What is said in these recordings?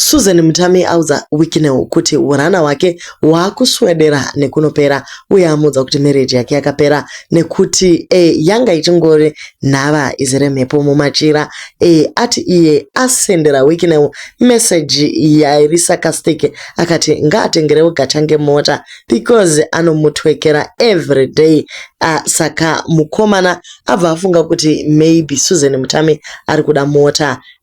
Susan Mutame audza Wicknell kuti hurana hwake hwakuswedera nekunopera uye amuudza kuti mereji yake yakapera nekuti e, yanga ichingori nhava izere mhepo mumachira e, ati iye asendera Wicknell meseji yairi sakastike akati ngaatengerewo gachange mota because anomutwekera everyday uh, saka mukomana abva afunga kuti maybe Susan Mutame ari kuda mota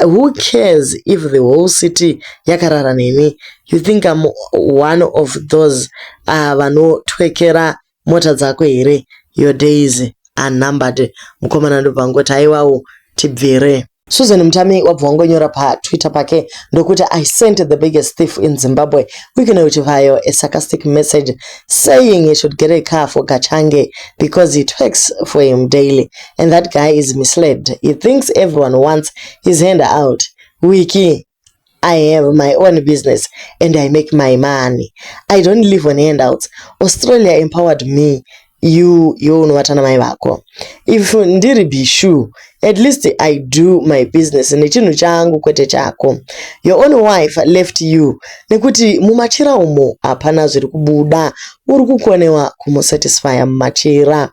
Who cares if the whole city yakarara neni? You think I'm one of those uh, vanotwekera mota dzako here? Your days are numbered. Mukomana ndobva angoti aiwawo tibvire. Susan Mutami wabva wangonyora paTwitter pake ndokuti I sent the biggest thief in Zimbabwe uikona kuti vayo a sarcastic message saying he should get a car for Gachange because he twerks for him daily. and that guy is misled he thinks everyone wants his hand out wiki I have my own business and I make my money. I don't live on handouts. Australia empowered me. You, you unovatana mai vako. If ndiri bishu, at least I do my business nechinhu changu kwete chako. Your own wife left you nekuti mumachira umo hapana zviri kubuda. Uri kukonewa kumusatisfya mumachira.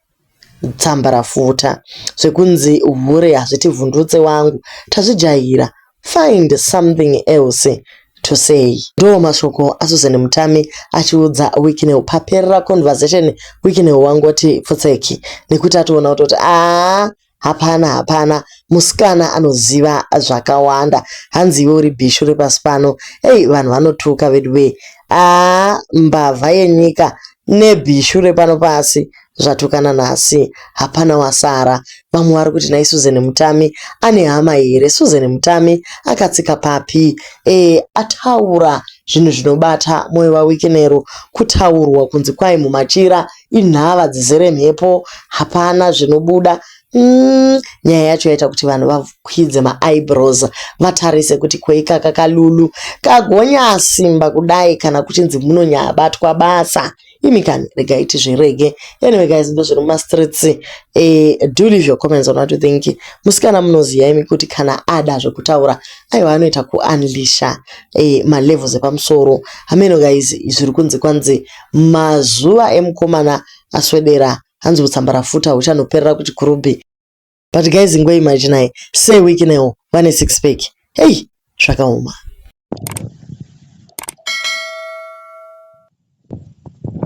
Tsambarafuta zvekunzi hure hazvitivhundutse wangu tazvijaira find something else to say ndoo mashoko aSusan Mutami achiudza Wicknell paperera conversation Wicknell wangoti pfutseki nekuti atoona kutoti haa Hapana hapana musikana anoziva zvakawanda hanzi iwe uri bhishu repasi pano hey vanhu vanotuka veduwee aa mbavha yenyika nebhishu repano pasi zvatukana nhasi hapana wasara vamwe vari kuti nai susan mutami ane hama here susan mutami akatsika papi e ataura zvinhu zvinobata moyo vawikinero kutaurwa kunzi kwai mumachira Inhava dzizere mhepo hapana zvinobuda umm nyaya yacho yaita kuti vanhu vakwidze maeyebrows vatarise kuti ko ikaka kalulu kagonyasimba kudai kana kuchinzi munonyabatwa basa imi kani regai tizvirege anyway guys ndozviri mumastreets eh, do leave your comments on what you think musikana munoziva imi kuti kana ada zvekutaura aiwa anoita kuunleasha eh, malevels epamusoro hameno guys zviri kunzi kwanzi Mazuva emukomana aswedera hanzi hutsambarafuta huchanoperera kuchikurubhi. But guys ingo imaginai Sir Wicknell vane six pack. Hey zvakaoma.